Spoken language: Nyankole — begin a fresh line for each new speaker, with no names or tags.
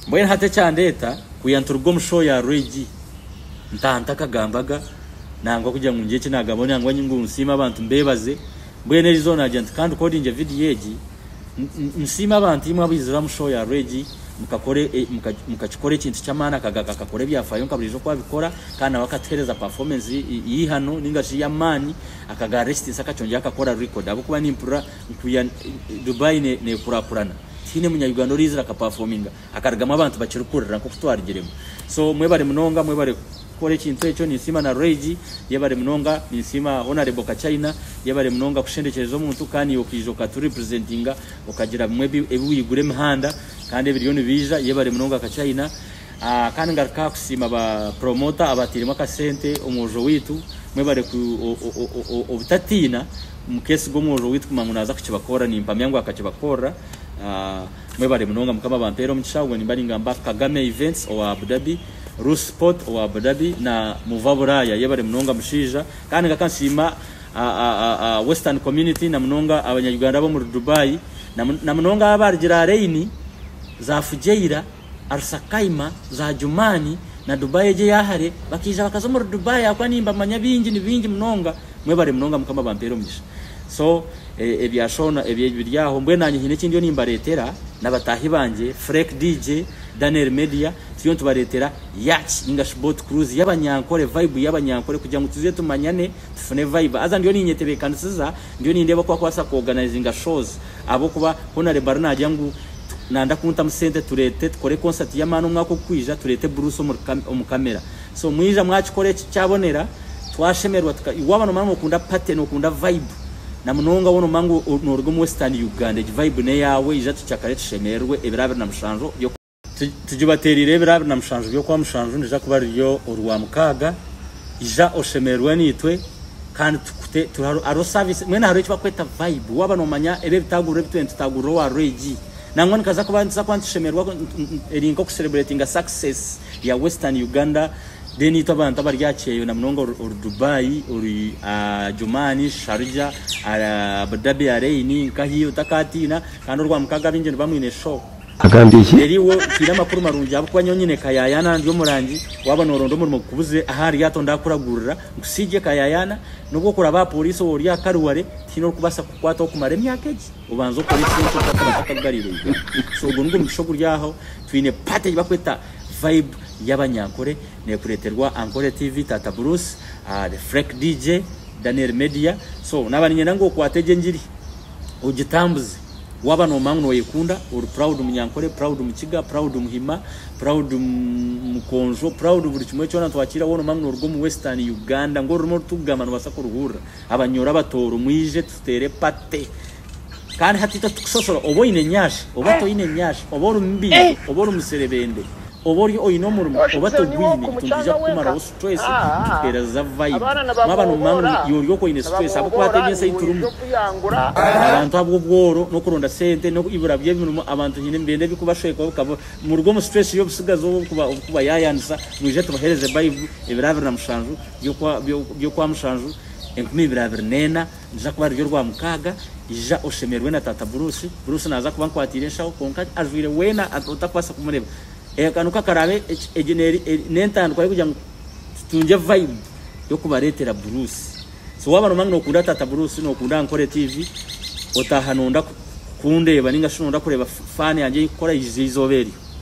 Mbwenu hati ekyandeeta kwiha nituruga omu show ya Roy-G ntaha ntakagambaga nangwa kugira ngu ngire eki nagamba nangwa ngu nsiime abantu mbebaze. Mbwenu egi zoona nagira nti ka ndukodingye vidiyo egi nsiime abantu imwe abaizire aha mu show ya Roy-G mukakikora ekintu ky'amaani akagaruka akakora ebyafaayo nka burijo oku abikora kandi nawe akatuhereza performance y'eihano ninga shi ey'amaani akagarura ekitiinisa akakyongera akakora record ahabw'okuba nimpurira kwiha Dubai nekurakurana. Tihaine munyayuganda oraizire akapafominga akarugamu abantu bakirikuhurira nk'oku twarugiremu. So mwebare munonga, mwebare kukora ekintu ekyo. Ninsiima na Rage, yebare munonga. Ninsiima Honarebo Kachaina, yebare munonga kushendekyereza omuntu kandi naiwe okaija okatu representinga, okagira bimwe ebi ebi waigura emihanda kandi ebiriyo nibiija. Yebare munonga Kachaina. Kandi ngaruka aha kusiima ba promoter abatairemu akasente omwojo waitu. Mwebare obutatiina mukesiga omwojo waitu kumanya ngu naza kukibakorera. Nimpamya ngu akakibakorera. Mwebare munonga mukama abampere omugisha. Obwe nimba ningamba Kagame events owa Abu Dhabi, Ruth sport owa Abu Dhabi na Muva Buraya. Yebare munonga mushaija. Kandi ngaruka nsiima western community na munonga abanya Uganda abomuri Dubai na munonga abo abarugire aha raini za Fujairah. Arsakaima, Zajumaani na Dubai egyo eya hare bakaija bakaza omuri Dubai ahabw'okuba nimbamanya baingi ni baingi munonga. Mwebare munonga Mukama abampeere omugisha. So ebya Shona ebyo biri aho mbwenu naanye haine eki ndiyo nimbareetera n'abataahi bangye Freck DJ, Daniel Media turiyo nitubareetera Yacht ninga shi Boat Cruise y'abanyankore, vibe y'abanyankore kugira ngu tuze tumanyane. tufune vibe haza ndiyo ninyetebekanisiza ndiyo nindeeba oku akubaasa ku organizinga shows ahabw'okuba hoona Reba ariyo naagira ngu nanda kuntamu sente tureete tukore concert y'amaani omwaka ogukwija tureete Bruce omu camera so mwija mwakikora eki kyabonera twashemererwa tuka waaba nomanya ngu okunda party nokunda vibe na munonga waaba nomanya ngu nooruga omu western Uganda egi vibe n'eyaawe ija tucakare tushemererwe ebiro abiri na mushanju by'oku Tugibateereire ebiro abiri na mushanju by'okwa mushanju nirija kuba riri orwa mukaaga. Ija oshemererwe naitwe kandi tukute turi hariho service mwena hariho eki bakweta vibe waba nomanya ebi ebitaguriro ebi twine tutagurira owa regi nangwa nikaza kuba nituza kuba nitushemererwa eri nka oku celebratinga success ya western Uganda then itwe abantu abari aha kyeyo na munonga ori Dubai ori Ajumani Sharja Abu Dhabi Areini nkahi otakatiina kandi orwa mukaaga abaingi niba mwine show Agambye ki? Nelly,
Wo mpaire amakuru
marungi ahabw'okuba nyowe nyine kayayaana ndi omurangi, waaba nooronda omurimo gukubuze aha ryato ndaakuragurira nkusiigye kayayaana, n'obu okuraaba aha pooriisi oba ori aha karuware tihaine orikubaasa kukukwataho kumara emyaka egi, obanze okore ekishushani ky'oku kakaba katakugarire igara. So ogwo nigwo mugisha oguri aho, twine paati ei barikweta Vibe y'Abanyankore neekureeterwa Ankore TV, Taata Bruce, The Freck DJ, Daniel Media, so naaba niinyenda ngu okwate egye engiri ogitambuze. Waba nomanya ngu noyekunda, ori proud munyankore, proud mukiga, proud muhima, proud mukonjo, proud buri kimwe kyona nitwakiira wona omanya ngu noruga omu western Uganda ngu orurimi orutugamba nobasa kuruhurira abanyoro abatooro mwije tuteere party Kandi hati itwe titukusosola oba oyine nyashi oba toyine nyashi oba ori mubindi oba ori muserebende oba ori oyine omurimo oba togwine itwe nitwija kukumaraho Stress kikuteereza vibe. Waaba noomumaha ngu iwe ori oku oine stress ahabw'okukwata ebi ensi ei turimu. Abantu ahabw'obworo n'okuronda sente n'eibura ry'emirimo abantu haine nibenda ebikubashweka bikaba muruga omu stress y'obutsigazi obu kubayaayaanisa mwije tubaheereze Baibu ebiro abiri na mushanju by'okwa mushanju enkumi ibiri abiri n'ena niriza kuba riryo rwa mukaaga ija oshemererwe na Taata Bruce. Bruce naaza kuba ankwatiire enshaho kwonka ajwaire weena otakubaasa kumureeba. Aka niko akaraabe, egyo n'entandikwa y'okugira ngu tutungye vibe y'okubareetera Bruce. So waaba noomanya ngu nookunda Taata Bruce, nookunda Ankore TV, otaaha noonda kundeeba nainga shi noonda kureeba fan yangye ei nkukora, iza eizooba eryo.